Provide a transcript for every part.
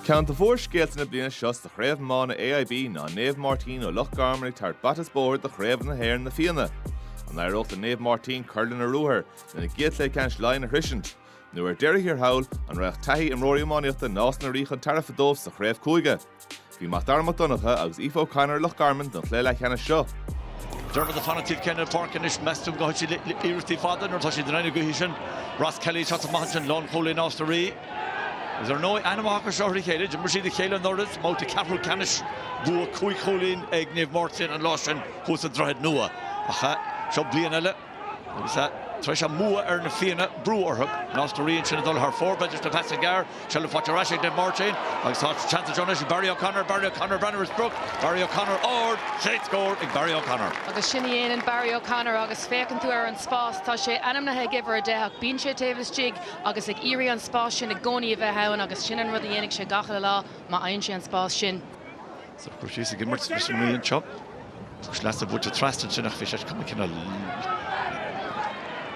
Ceann de mhórscéalta na bliana seo sa chraobh iomána AIB ná Naomh Máirtín ó Loch Garman ag tabhairt bata is bóthar do Chraobh na hÉireann Na Fianna. An éireoidh le Naomh Máirtín cur lena ruathar, lena gcéad chluiche ceannais Laighean a shroisint? Nó ar deireadh thiar thall, an raghadh taithí imreoirí iománaíochta Nás na Rí chun tairbhe dóibh sa chraobh cúige? Bhí Mac Dara Mac Donncha agus Aoife O'Connor i Loch Garman don chluiche leathcheannais seo. Dermot ag fanacht taobh céanna páirc anois, meas tú an gcaithfidh siad le hiarrachtaí fada nuair atá siad in aghaidh na gaoithe sin. Ross Kelly, sách maith ansin, lánchúlaí Nás na Rí. Is ar ndóigh an-aithne acu seo ar a chéile, d'imir siad a chéile anuraidh sa mbabhta ceathrú ceannais, bua cúig chúilín ag Naomh Máirtín an lá sin thuas sa Droichead Nua. Ach seo bliain eile. Agus tar éis a mbua ar na Fianna, brú orthu. Nás na Rí ansin ag dul thar fóir, b'fhéidir, leis na pasanna gearr. Seilbh faighte ar ais ag Naomh Máirtín agus tá seans anseo anois ag Barry O'Connor, Barry O'Connor, breathnú ar an sprioc, Barry O'Connor, ard, chéad scór ag Barry O'Connor. Agus sin a dhéanann Barry O'Connor agus féachann tú ar an spás, tá sé ainmnithe ag uimhir a deich ach bíonn sé taobh istigh agus ag iarraidh an spás sin i gcónaí a bheith ann agus sin an rud a dhéanfaidh sé gach uile lá, má fhaigheann sé an spás sin. Sa chúis thíos ag imirt leis an mbliain seo, dúirt lasc buailte trasna ansin nach bhféadfaí sé cuma cine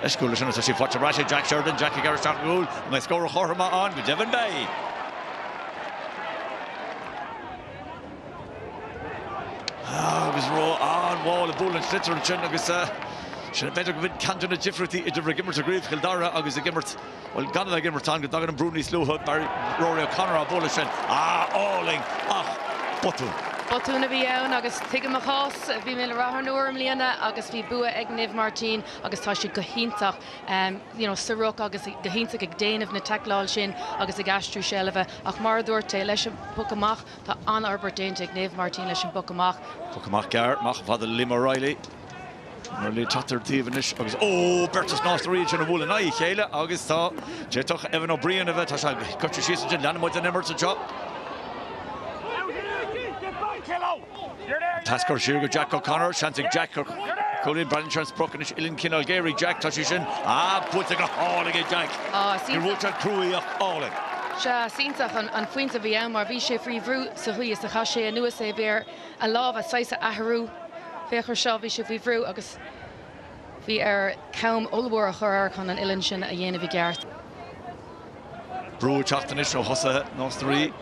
leis go bhfuil sin tá sí faighte ar ais ag Jack Sheridan, Jack ag gearradh isteach ar an gcúl, an mbeidh scór an chothroim ann? Go deimhin beidh! Agus rómhall ag bualadh an sliotair ansin agus sin b'fhéidir go bhfuil ceann de na difríochtaí idir ag imirt i gCraobh Chill Dara agus ag imirt Bhuel, gan a bheith ag imirt ann go dtagann an brú níos luaithe. Rory O'Connor á bhualadh sin. Ah, álainn ach botún. Botún a bhí ann agus tuigim a chás. Bhí mé le Rath an Iúir i mbliana agus bhí bua ag Naomh Máirtín agus tá siad go hiontach, you know, sa ruc agus go hiontach ag déanamh na taicleáil sin agus ag aistriú seilbhe ach mar a dúirt tú, leis an bpoc amach, tá an-fhorbairt déanta ag Naomh Máirtín leis an bpoc amach. Poc amach gearr, amach chomh fada le Liam O'Reilly. O'Reilly teacht ar an taobh anois agus ó! Beirt as Nás na Ríogh ansin a bhuail in aghaidh a chéile agus tá, d'fhéadfadh Evan Ó Briain a bheith, tá sé curtha síos ansin, leanann muid an imirt anseo. Pas curtha siar go Jack O'Connor, seans ag Jack cúilín, breathnaíonn sé ar an sprioc anois uillinn cineál géar ag Jack, tá sí sin, ah buailte go hálainn ag Jack, níor bhuail sé cruaidh ach álainn. Sea, is iontach an phointe a bhí ann mar bhí sé faoi bhrú sa chaoi is a chaith sé anuas é, bhí air a lámha saghas a athrú. Féach air seo, bhí sé faoi bhrú agus bhí air cam ollmhór a chur air chun an uillinn sin a dhéanamh i gceart. Brú ag teacht anois ó thosaithe Nás na Rí.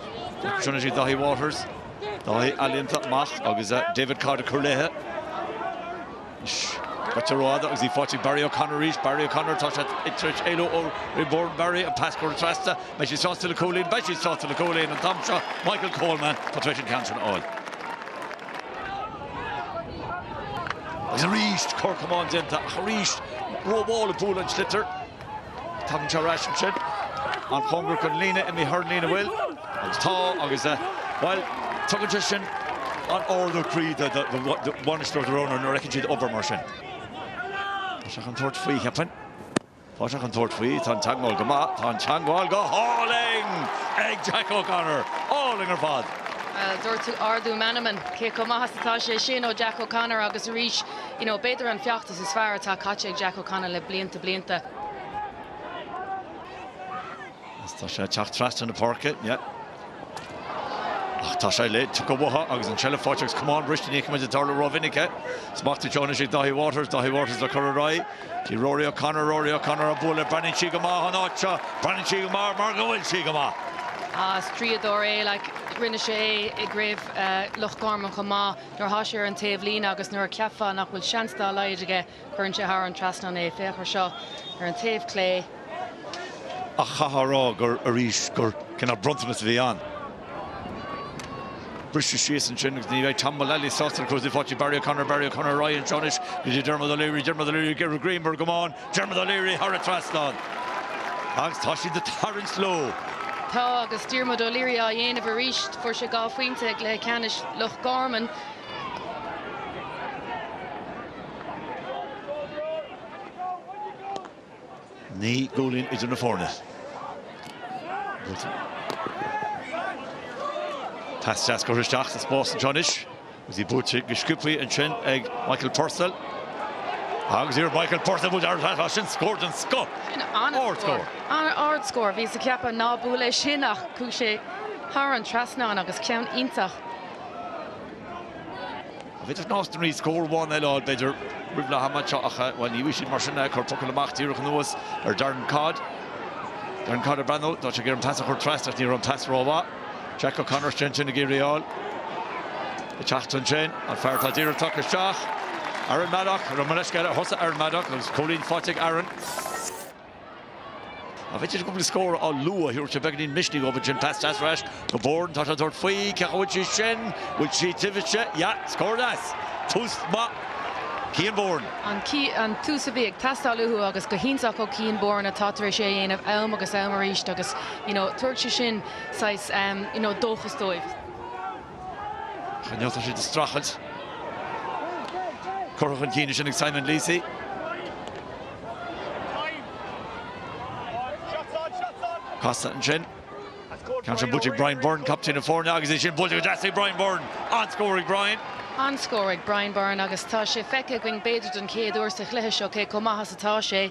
Deir Trinity Dhaithí Waters, Dáithí ealaíonta amach agus David Codd ag cur léi. Caitear rófhada agus í faighte ag Barry O'Connor arís. Barry O'Connor, tá sé tar éis éalú ó Rian Boran. Barry, an pas curtha trasna. An mbeidh siad sásta le cúilín? Beidh siad sásta le cúilín an t-am seo. Michael Coleman, tá tar éis an ceann sin a fháil. Agus arís cor camáin déanta ach arís rómhall ag bualadh an tsliotair. Tagann sé ar ais ansin, an-chóngarach don líne imithe thar líne bhfuil agus tá agus, bhuel, tugann sé sin an-ardú croí do bhainisteoir do Rónán nuair a fheiceann siad obair mar sin. Tá sé chun tabhairt faoi, cheapfainn. Tá sé chun tabhairt faoi, tá an teagmháil go maith, tá an teagmháil go hálainn ag Jack O'Connor! Álainn ar fad! Bhuel, dúirt tú ardú meanman, cé chomh maith is atá sé sin ó Jack O'Connor agus arís, you know, b'fhéidir an feacht, Is is fearr atá caite ag Jack O'Connor le blianta blianta. Is tá sé ag teacht trasna na páirce. Ach tá sé ligthe uathu agus an seilbh faighte agus camán briste, ní fheiceann muid é ag tarlú rómhinic. Smacht air seo anois ag Dáithí Waters. Dáithí Waters le cur ar aghaidh go dtí Rory O'Connor. Rory O'Connor á bualadh. Breathnaíonn sí go maith an áit seo. Breathnaíonn sí go maith mar go bhfuil sí go maith. Is draíodóir é. Rinne sé é i gCraobh Loch Garman chomh maith. Nuair atá sé ar an taobhlíne agus nuair a cheapfá nach bhfuil seans dá laghad aige, cuireann sé thar an trasnán é. Féach ar seo ar an taobh clé. Ach chaithfeá a rá gur, arís, gur cineál bronntanas a bhí ann. Briseadh síos ansin agus ní bheidh Tom Mullally sásta agus í faighte ag Barry O'Connor, Barry O'Connor, ar aghaidh anseo anois go dtí Dermot O'Leary, Dermot O'Leary, ag giorrú greim ar an gcamán. Dermot O'Leary thar an trasnán agus tá siad ag tarraingt leo. Tá agus Diarmuid O'Leary á dhéanamh arís. Fuair sé dhá phointe i gcluiche ceannais Loch Garman. Naoi gcúilín idir na foirne. Pas deas curtha isteach sa spás anseo anois. Agus í buailte go sciobthaí ansin ag Michael Purcell. Agus iarracht Michael Purcell a bhuail ar ais sin scór den scoth. Sin an-scór. An-ardscór. Bhíos ag ceapadh ná buail é sin ach chuaigh sé thar an trasnán agus ceann iontach. An féidir Nás na Rí scór amháin eile a fháil b'fhéidir roimh leath ama ach, bhuel, ní bhíonn siad mar sin. Cuireadh poc amach díreach anuas ar Darren Codd. Darren Codd ag breathnú, tá sé ag iarraidh an pas a chur trasna ach ní raibh an pas rómhaith. Jack O'Connor is déanach ag iarraidh a fháil ag teacht ansin, an fear atá díreach isteach, Aaron Maddock, Romanesque eile a thosaigh Aaron Maddock agus cúilín faighte ag Aaron. B'fhéidir cúpla scór go luath, thabharfadh sé beagáinín misnigh dhóibh ansin. Pas deas ar ais go Boran, tá sé ag tabhairt faoi, cén chaoi a bhfuil sí sin, bhfuil sí taobh istigh, yeah, scór deas, tús maith Cian Boran. An tús a bhí ag teastáil uathu agus go hiontach ó Cian Boran atá tar éis é a dhéanamh am agus am arís agus, you know Tabharfaidh sé sin saghas you know dóchas dóibh. Cineál tá siad ag streachailt. Curtha chun cinn ansin ag Simon Leacy. Casta ansin. Ceann sin buailte ag Brian Byrne, captaen na foirne, agus é sin buailte go deas ag Brian Byrne. An-scór ag Brian. An-scór ag Brian Byrne agus tá sé feicthe againn b'fhéidir den chéad uair sa chluiche seo cé chomh maith is atá sé.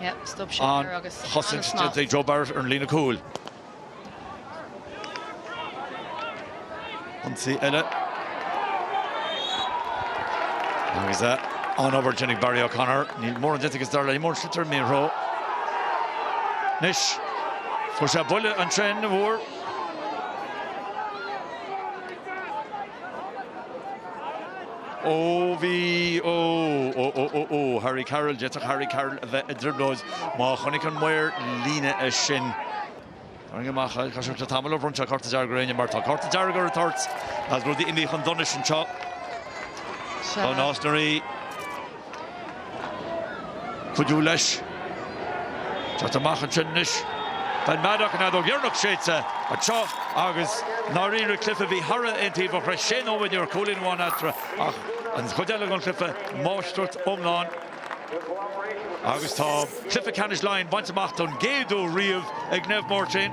an chosaint Joe Barrett ar an líne cúil. Ionsaí eile agus an obair déanta ag Barry O'Connor. Níl mórán déanta agus dar le mar an sliotar mírthreo. Anois, fuair sé buille an-tréan, an-mhór. Ó bhí ó ó ó ó ó Harry Carroll, d'fhéadfadh Harry Carroll a bheith i dtrioblóid má chonaic an maor líne é sin. Tharraing amach é, caithfidh sé tamall ó bhronn sé cárta dearg ar éinne mar tá cárta dearg ar an toirt agus rudaí imithe chun donais anseo do Nás na Rí. cuidiú leis. Teacht amach ansin anois Ben Maddock, an fheadóg dheireanach séidte anseo agus i ndáiríre cluife a bhí thar a bheith aontaobhach. Tar éis sé nóiméad ní raibh ach cúilín amháin eatarthu ach an chuid eile den chluife máistreacht iomlán agus tá cluife ceannais Laighean bainte amach don gcéad uair riamh ag Naomh Máirtín.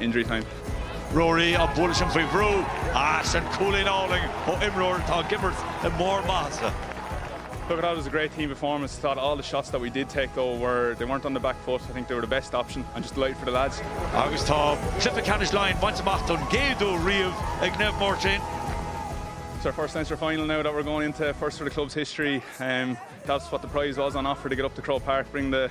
Injury time. Ruairí á bualadh sin faoi bhrú ach sin cúilín álainn ó imreoir atá ag imirt i mbarr maitheasa. Look I thought it was a great team performance, I thought all the shots that we did take though were, they weren't on the back foot, I think they were the best option, I'm just delighted for the lads. Agus tá cluiche ceannais Laighean bainte amach don gcéad uair riamh ag Naomh Máirtín. It's our first Leinster final now that we're going into, first for the club's history. Um, that's what the prize was on offer to get up to Croke Park, bring the